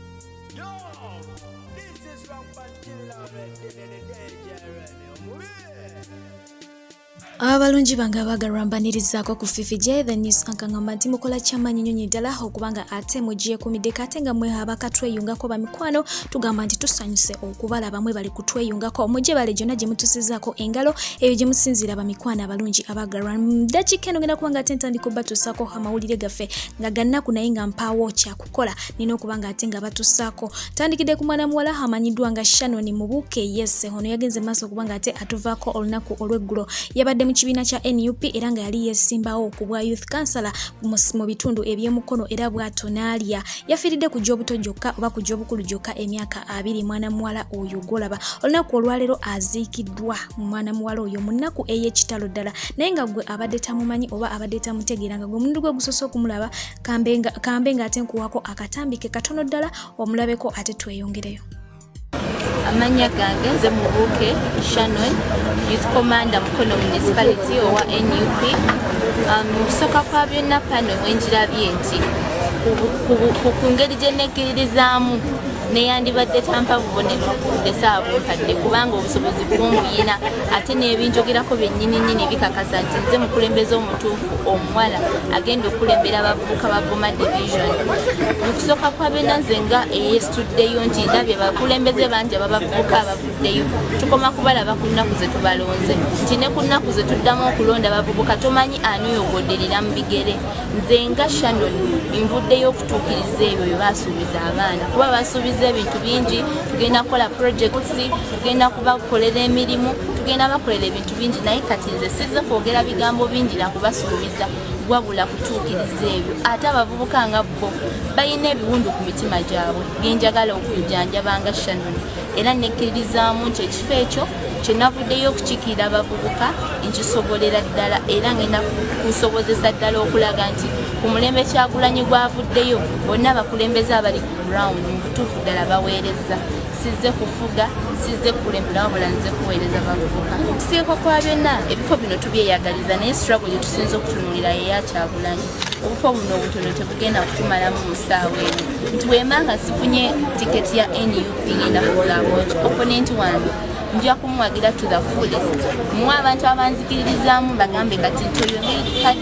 Yo, this is Rampant Killer Red, the DJ Red, abalungi bange abaagalwa mbanirizaako ku fifi j the news kankangamba nti mukola kyamaanyi nyonyi ddala okuba nga ate mugyekumiddeko ate nga mwe abakatweyungako bamikwano tugamba nti tusanyuse okubala bamwe bali kutweyungako mugye bale gyonna gye mutusizaako engalo eyo gye musinziira bamikwano abalungi abaagalwa dakiika eno ngenda kuba nga ate ntandika obatuusaako amawulire gaffe nga gannaku naye nga mpaawo kyaku kukola nina okuba nga ate nga batusaako tandikidde ku mwana muwala amanyiddwa nga shannon mubuuke yese ono yagenze maaso okuba nga ate atuvaako olunaku olweggulo yabadde mu kibiina kya nup era nga yali yesimbawo ku bwa youth councilor mu bitundu ebyemukono era bwato naalya yafiiridde ku gy'obuto gyokka oba ku gy'obukulu gyokka emyaka abiri mwana muwala oyo gwolaba olunaku olwaleero aziikiddwa mwana muwala oyo mu nnaku ey'ekitalo ddala naye nga gwe abadde tamumanyi oba abadde tamutegeera nga gwe omundi gwe gusoose okumulaba kambe nga kambe nga ate nkuwako akatambi ke katono ddala omulabeko ate tweyongereyo amannya gange nze mubuuke shannon youth commander mukono municipality owa nup um, mu kusooka kwa byonna pano mwenjirabye nti ku ngeri gye nekkiririzaamu neyandibadde tampa bubonero ndese abunkadde kubanga obusobozi bwomuyina ate n'ebinjogerako byennyini nnyini bikakasa nti nze mukulembeze omutuufu omuwala agenda okukulembera abavubuka ba goma division mu kusooka kwa bena nze nga eyesituddeyo nti ndabye bakulembeze bangi ababavubuka abavuddeyo tukoma kubalaba ku nnaku ze tubalonze nti ne ku nnaku ze tuddamu okulonda abavubuka tomanyi ani oyogoderera mu bigere nze nga shannon nvuddeyo okutuukiriza ebyo bye basuubiza abaana kuba basuubiza ebintu bingi tugenda kukola projects tugenda kubakolera emirimu tugenda bakolera ebintu bingi naye kati nze sizze kwogera bigambo bingi nakubasuubiza wabula kutuukiriza ebyo ate abavubuka nga bo balina ebiwundu ku mitima gyabwe genjagala okujanjaba nga shanoni era nekkiririzaamu nti ekifo ekyo kyenavuddeyo okukikiira abavubuka nkisobolera ddala era ngenda kusobozesa ddala okulaga nti ku mulembe kyagulanyi gwavuddeyo bonna abakulembeze abali ku ground mu butuufu ddala baweereza sizze kufuga sizze kukulembera wabula nze kuweereza bavubuka okusiika kwa byonna ebifo bino tubyeyagaliza naye sirago gye tusinza okutunulira yeyakyagulanyi obufo buno obutono tebugenda kutumalamu mu ssaawa eno nti wemanga sifunye tiketi ya nup ngenda kuzaaboki oponenti wange nja kumuwagira to the fullest muwe abantu abanzikiririzaamu bagambe kati nti oyo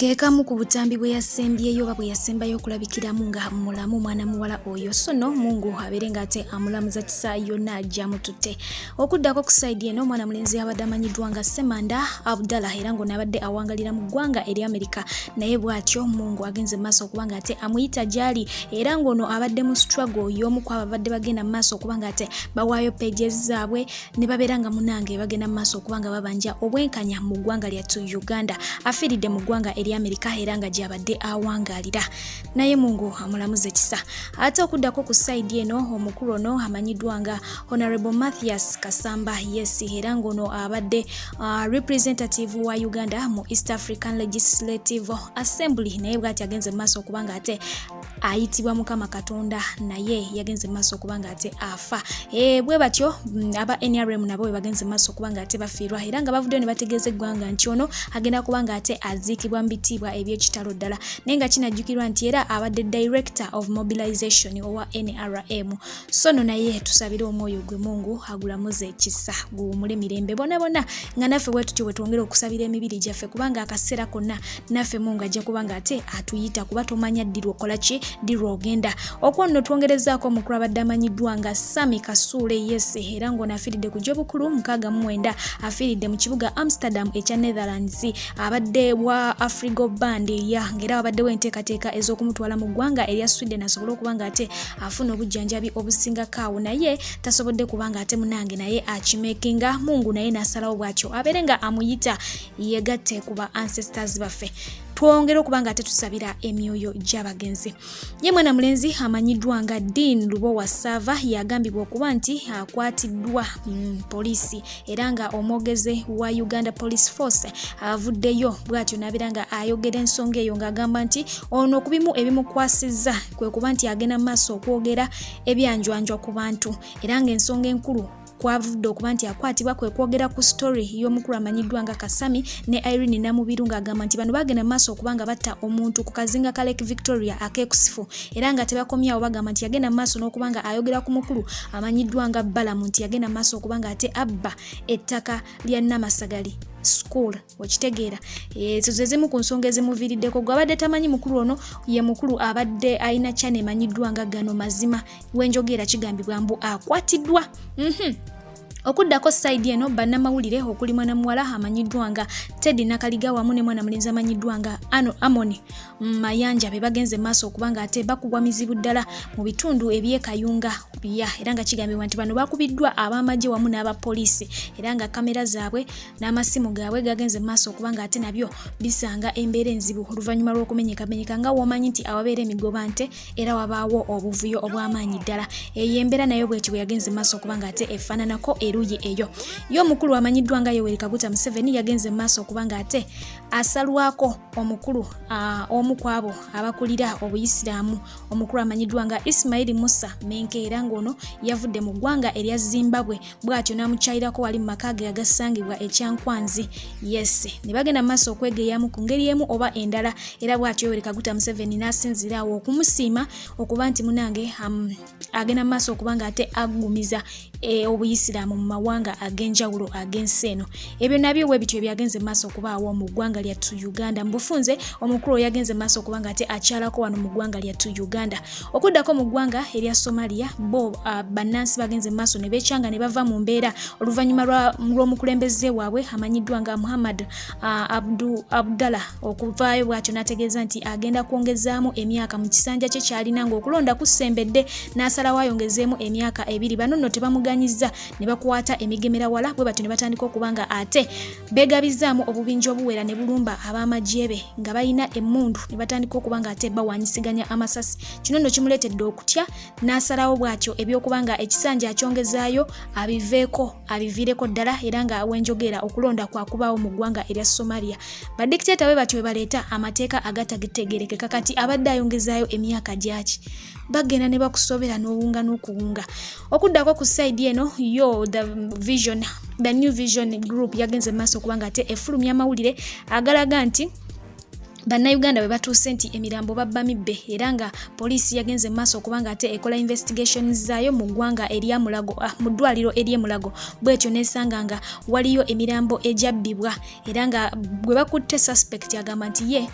kekamu ku butambi bwe yasembyeyo oba bwe yasembayo okulabikiramu nga mulamu mwana muwala oyo sono mungu abeere nga ate amulamuza kisa yonna gyamututte okuddako ku saidi eno omwana mulenzi abadde amanyiddwa nga semanda abdala era ng'ono abadde awangalira mu ggwanga eri amerika naye bw'atyo mungu agenze maaso okuba nga ate amuyita gyali era ng'ono abadde mu strago y'omu ku ababadde bagenda mu maaso okuba nga ate bawaayo pages zaabwe ne babeera nga munange bagenda mu maaso okuba nga babanja obwenkanya mu ggwanga lyattu uganda afiiridde mu ggwanga eri amerika era nga gyabadde awangaalira naye mungu amulamuze kisa ate okuddako ku saidi eno omukulu ono amanyiddwa nga honorable mathias kasamba yes era ng'ono abadde uh, representative wa uganda mu east african legislative assembly naye bwati agenze mu maaso okuba nga ate ayitibwa mukama katonda naye yagenze maaso okuba nga ate afa e, bwe batyo mm, aba nrm nabo bwe bagenze maaso okuba nga ate bafiirwa era nga bavuddeyo ne bategeeza eggwanga nti ono agenda kuba nga ate aziikibwa mu bitiibwa ebyekitalo ddala naye nga kinajjukirwa nti era abadde director of mobilization owa nrm sono naye tusabire omwoyo gwe mungu agulamuze ekisa guwumule mirembe bonabona nga naffe bwetutyo bwetwongere okusabira emibiri gyaffe kubanga akaseera konna naffe mungu ajja kubanga ate atuyita kuba tomanya ddirwa okola ki ddirwa ogenda okwo nno twongerezaako omukulu abadde amanyiddwa nga sami kasuule yese era ng'ono afiiridde ku gyobukulu mukaaga mumwenda afiiridde mu kibuga amsterdam ekya netherlands abadde wa afrigo band ya ngaera wabaddewo enteekateeka ez'okumutwala mu ggwanga erya sweden asobole okuba nga ate afuna obujjanjabi obusingako awo naye tasobodde kubanga ate munange naye akimekinga mungu naye nasalawo bwatyo abeere nga amuyita yegatte ku ba ancestors baffe twongere okuba nga tetusabira emyoyo gy'abagenzi ye mwana mulenzi amanyiddwa nga dean lubowa sava yagambibwa okuba nti akwatiddwa mm, poliisi era nga omwogeze wa uganda police force avuddeyo bwatyo nabeera nga ayogera ensonga eyo ng'agamba nti ono okubimu ebimukwasizza kwe kuba nti agenda mu maaso okwogera ebyanjwanjwa ku bantu era ng'ensonga enkulu kwavudde okuba nti akwatibwa kwe kwogera ku story y'omukulu amanyiddwa nga kasami ne irene namubiru ng'agamba nti bano bagenda mu maaso okuba nga batta omuntu ku kazinga ka lake victoria akekusifu era nga tebakomyawo bagamba nti yagenda mu maaso n'okuba nga ayogera ku mukulu amanyiddwa nga balamu nti yagenda mu maaso okuba nga ate abba ettaka lya namasagali school okitegeera ezo zezimu ku nsonga ezimuviiriddeko gwe abadde tamanyi mukulu ono ye mukulu abadde alina kyana emanyiddwa nga gano mazima wenjogeera kigambibwa mbu akwatiddwa mhm. okuddako saidi eno bannamawulire okuli mwana muwala amanyiddwa nga teddy nakaliga wamu ne mwana mulenzi amanyiddwa nga ano amoni mayanja be bagenze maaso okuba nga ate bakubwa mizibu ddala mu bitundu ebyekayunga bya era nga kigambibwa nti bano bakubiddwa ab'amagye wamu n'abapoliisi era nga kamera zaabwe n'amasimu gaabwe gagenze mu maaso okuba ng'ate nabyo bisanga embeera enzibu oluvannyuma lw'okumenyekamenyeka nga womanyi nti awabeera emigoba nte era wabaawo obuvuyo obw'amaanyi ddala eyo embeera nayo bweti bwe yagenze mu maaso okuba ng'ate efaananako eruuyi eyo ye omukulu amanyiddwa nga yoweri kaguta museveni yagenze mu maaso okuba ng'ate asalwako omukulu omu ku abo abakulira obuyisiraamu omukulu amanyiddwa nga isimaili musa menkeera ng'ono yavudde mu ggwanga erya zimbabwe bw'atyo n'amukyayirako wali mu maka ge agasangibwa ekyankwanzi yes ne bagenda mu maaso okwegeyamu ku ngeri emu oba endala era bw'atyo yoweri kaguta museveni n'asinziira awo okumusiima okuba nti munange um, agenda mu maaso okuba nga ate aggumiza e, obuyisiraamu mu mawanga ag'enjawulo ag'ensi eno ebyo nabyo bwe bityo ebyagenze mu maaso okubaawo mu ggwanga lyattu uganda mu bufunze omukulu oyagenze mu maaso okuba nga ate akyalako wano mu ggwanga lyattu uganda Okuddako mu ggwanga erya Somalia bo uh, bannansi bagenze mu maaso ne beekyanga ne bava mu mbeera oluvannyuma lw'omukulembeze waabwe amanyiddwa nga Muhammad uh, Abdu Abdalla okuvaayo bw'atyo n'ategeeza nti agenda kwongezaamu emyaka mu kisanja kye kyalina ng'okulonda kusembedde n'asalawo ayongezeemu emyaka ebiri bano nno tebamuganyizza ne bakwata emigemerawala bwe batyo ne batandika okuba nga ate Beegabizzaamu obubinja obuwera ne bulumba ab'amagye be nga balina emmundu ne batandika okuba ng'ate bawanyisiganya amasasi. Kino nno kimuleetedde okutya n'asalawo bw'atyo eby'okuba nga ekisanja akyongezaayo abiveeko abiviireko ddala era nga wenjogeera okulonda kwa kubaawo mu ggwanga erya Somalia. Badikiteeta bwe batyo bwe baleeta amateeka agatagitegeerekeka kati abadde ayongezaayo emyaka gyaki. bagenda ne bakusobera n'owunga n'okuwunga okuddako ku side eno yo the vision the new vision group yagenze mu maaso kubanga ate efulumya amawulire agalaga nti bannayuganda bwe batuuse nti emirambo babba mibbe era nga poliisi yagenze maaso okubanga ate ekola investigations zaayo mu ggwanga eryamulago ah, mu ddwaliro eryemulago bwetyo nesanga nga waliyo emirambo egyabbibwa era nga gwe bakutte suspect agamba nti ye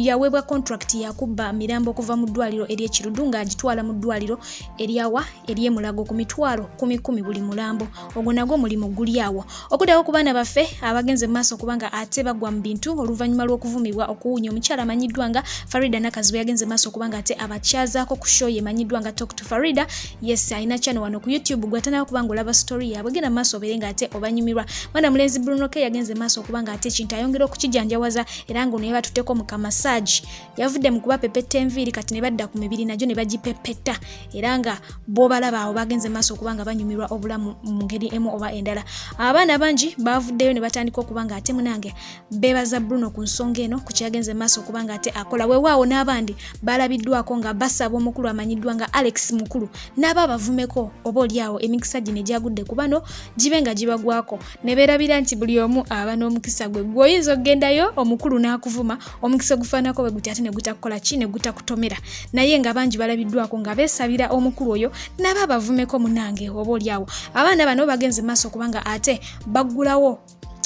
yaweebwa contract yakubba mirambo okuva mu ddwaliro ery'ekirudu ng'agitwala mu ddwaliro eryawa ery'emulago ku mitwalo kumi kumi buli mulambo ogwo nagwo omulimu guli awo okuddawo ku baana baffe abagenze mu maaso kubanga ate bagwa mu bintu oluvannyuma lw'okuvumibwa okuwunya omukyala amanyiddwa nga farida nakazi bwe yagenze mu maaso kubanga ate abakyazaako ku show yemanyiddwa nga tok to farida yes alina channel wano ku youtube gwatanaba kuba nga olaba story yaabwe genda maaso obeere nga ate obanyumirwa mwana mulenzi bruno ke yagenze maaso okuba nga ate ekintu ayongera okukijanjawaza era nga ono yebatutteko mu kamasaagi yavudde mu kuba pepetta enviiri kati ne badda ku mibiri nagyo ne bagipepetta era nga boobalaba awo bagenze maaso okuba nga banyumirwa obulamu mu ngeri emu oba endala abaana bangi bavuddeyo ne batandika okuba nga ate munange beebaza Bruno ku nsonga eno ku kyagenze maaso okubanga ate akola weewaawo n'abandi baalabiddwako nga basaba omukulu amanyiddwa nga Alex Mukulu n'aba abavumeko oba olyawo emikisa gino egyagudde ku bano gibe nga gibagwako ne beerabira nti buli omu aba n'omukisa gwe gwe oyinza okugendayo omukulu n'akuvuma omukisa ogufaanako bwe guti ate ne gutakukola ki ne gutakutomera naye nga bangi balabiddwako nga beesabira omukulu oyo n'aba abavumeko munange oba olyawo abaana bano bagenze maaso okubanga ate baggulawo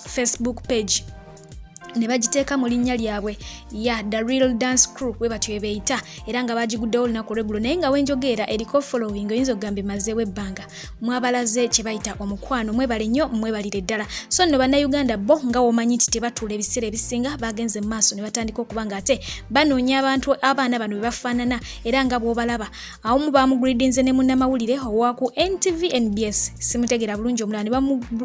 facebook page ne bagiteeka mu linnya lyabwe ya the real dance crew bwe batyo ebeeyita era nga baagiguddewo olunaku lwegulo naye nga wenjogeera eriko following oyinza okugamba emazeewo ebbanga mwabalaze kye bayita omukwano mwebale nnyo mwebalire ddala so nno bannayuganda bo nga womanyi nti tebatuula ebiseera ebisinga bagenze mu maaso ne batandika okuba nga ate banoonya abantu abaana bano bwe bafaanana era nga bw'obalaba awomu bamugridinze ne munnamawulire owaku ntv nbs simutegeera bulungi omulala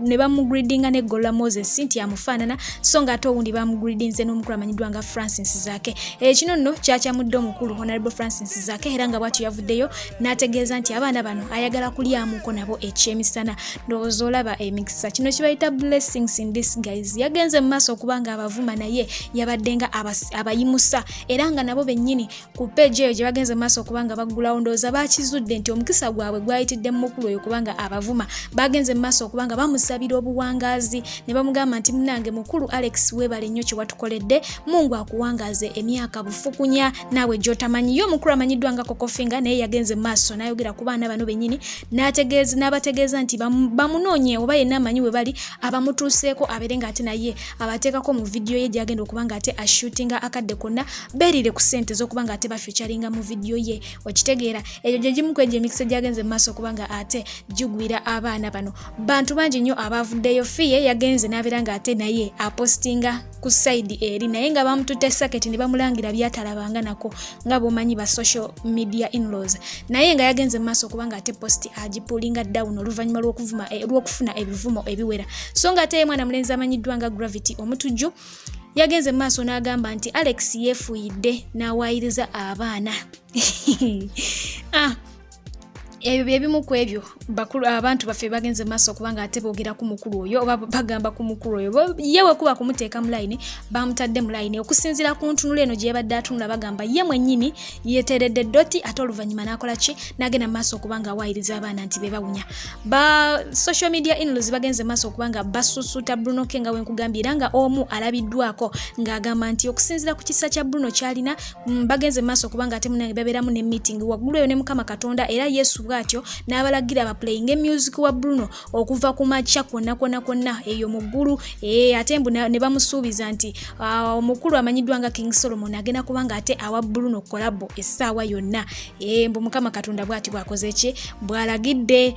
ne bamugridinga ne golla moses nti amufaanana so nga ate owundi bamugridinze n'omukulu amanyiddwa nga francis zake ekino eh, nno kyakyamudde omukulu honorable francis zake era nga bwatyo yavuddeyo n'ategeeza nti abaana bano ayagala kulyamuko nabo ekyemisana ndowooza olaba emikisa eh, kino kibayita blessings in this guys yagenze mu maaso okuba nga abavuma naye yabadde nga abayimusa era nga nabo bennyini ku peegi eyo gye bagenze mu maaso okubanga baggulawo ndowooza bakizudde nti omukisa gwabwe gwayitidde mu mukulu oyo kubanga abavuma bagenze mu maaso okubanga bamusabira obuwangaazi ne bamugamba nti munange mukulu alex weebale nnyo kye watukoledde mungu akuwangaaze emyaka bufukunya naawe gy'otamanyi ye omukulu amanyiddwa nga kokofinga naye yagenze mu maaso n'ayogera ku baana bano bennyini n'abategeeza nti bamunoonye oba yenna amanyi we bali abamutuuseeko abeere ng'ate naye abateekako mu vidiyo ye gyagenda okuba nga ate ashutinga akadde konna beerire ku sente z'okuba nga ate bafyucaringa mu vidiyo ye okitegeera egyo gye gimu ku egyo emikisa gyagenze mu maaso okuba nga ate gigwira abaana bano bantu bangi nnyo abaavuddeyo fiye yagenze n'abeera nga ate naye apostinga ku saidi eri naye nga bamututte saketi ne bamulangira byatalabanga nako nga bwomanyi ba social media inlaws naye nga yagenze mu maaso okubanga ate post agipulinga down oluvannyuma lw'okuvuma eh, lw'okufuna ebivumo ebiwera so nga ate ye mwana mulenzi amanyiddwa nga gravity omutujju yagenze mu maaso n'agamba nti alex yeefuuyidde n'awaayiriza abaana ah, ebyo bye bimu ku ebyo bakulu abantu baffe bagenze maaso kubanga ate boogera ku mukulu oyo oba bagamba ku mukulu oyo ye wekuba kumuteeka mu layini bamutadde mu layini okusinziira ku ntunula eno gye yabadde atunula bagamba ye mwennyini yeteredde ddoti ate oluvannyuma n'akola ki n'agenda mu maaso okuba nga awaayiriza abaana nti be bawunya ba social media inlos bagenze maaso okuba nga basusuuta bruno ke nga wenkugambye era nga omu alabiddwako ng'agamba nti okusinziira ku kisa kya bruno kyalina Mm, bagenze maaso kubanga ate munange babeeramu ne meeting waggulu eyo ne mukama katonda era yesu bwatyo n'abalagira baplayinge music wa bruno okuva ku makya kwonna kwonna kwonna eyo mu ggulu e, ate mbu ne bamusuubiza nti ah, omukulu amanyiddwa nga king solomon agenda kubanga ate awa bruno kolabo essaawa yonna e, mbu mukama katonda bwati bwakoze ki bwalagidde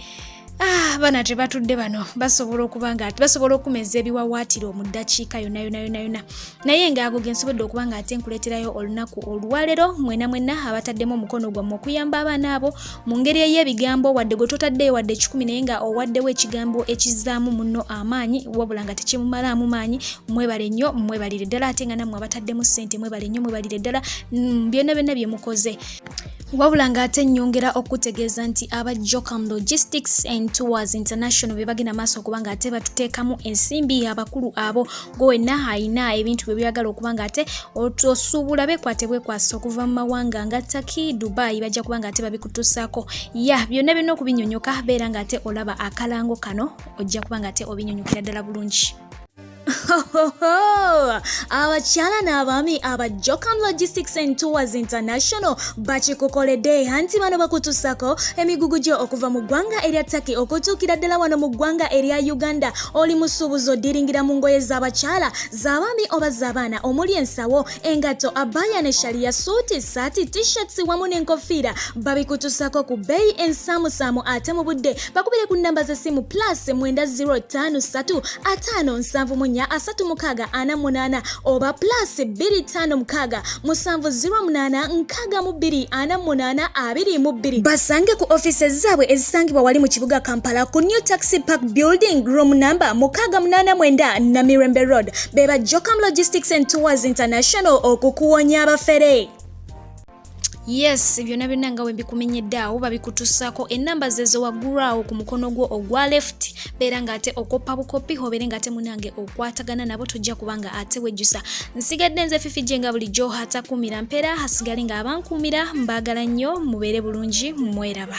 Ah, bana tebatudde bano basobola okuba nga basobola okumeza ebiwawaatiro mu ddakiika yona yona yona yona naye nga ago gensobodde okuba nga ate nkuleeterayo olunaku olwalero mwena mwena abataddemu omukono gwammwe okuyamba abaana abo mu ngeri ey'ebigambo wadde gwe totaddeyo wadde ekikumi naye nga owaddewo ekigambo ekizaamu munno amaanyi wabula nga tekimumalaamu maanyi mwebale nnyo mwebalire ddala ate nga nammwe abataddemu ssente mwebale nnyo mwebalire ddala mm, byonna byonna bye mukoze wabula ng'ate nnyongera okutegeeza nti aba jocam logistics and tours international be bagenda maaso okuba ng'ate batuteekamu ensimbi abakulu abo gwe wenna alina ebintu bye byagala okuba ng'ate osuubula bekwate bwekwasa okuva mu mawanga nga taki dubai bajja kuba ng'ate babikutusaako ya byonna byonna okubinyonyoka beera ng'ate olaba akalango kano ojja kuba ng'ate obinyonyokera ddala bulungi abakyala n'abaami aba jocam logistics and tours international bakikukoledde anti bano bakutusako emigugu gyo okuva mu ggwanga erya taki okutuukira ddala wano mu ggwanga erya uganda oli musuubuzi odiringira mu ngoye z'abakyala z'abaami oba z'abaana omuli ensawo engatto abaya ne shaliya suuti saati tishirts wamu n'enkofiira babikutusako ku bbeeyi ensaamusaamu ate mu budde bakubire ku nnamba z'essimu plus 953 ataano nsanvu munya asatu mukaaga ana munaana oba plus 25 mukaaga musanvu 08 aga mu bbiri ana munaana abiri mu bbiri basange ku office zaabwe ezisangibwa wali mu kibuga kampala ku new taxi park building room number mukaaga munaana mwenda namirembe road beba jocam logistics and tours international okukuwonya abafere yes byonna byonna nga wembikumenyedde awo babikutusaako enamba zezo waggulu awo ku mukono gwo ogwa left beera nga ate okoppa bukoppi hobeere nga ate munange okwatagana nabo tojja kuba nga ate wejjusa nsigadde nze fifi gye nga bulijjo hatakuumira mpeera hasigale nga abankuumira mbaagala nnyo mubeere bulungi mweraba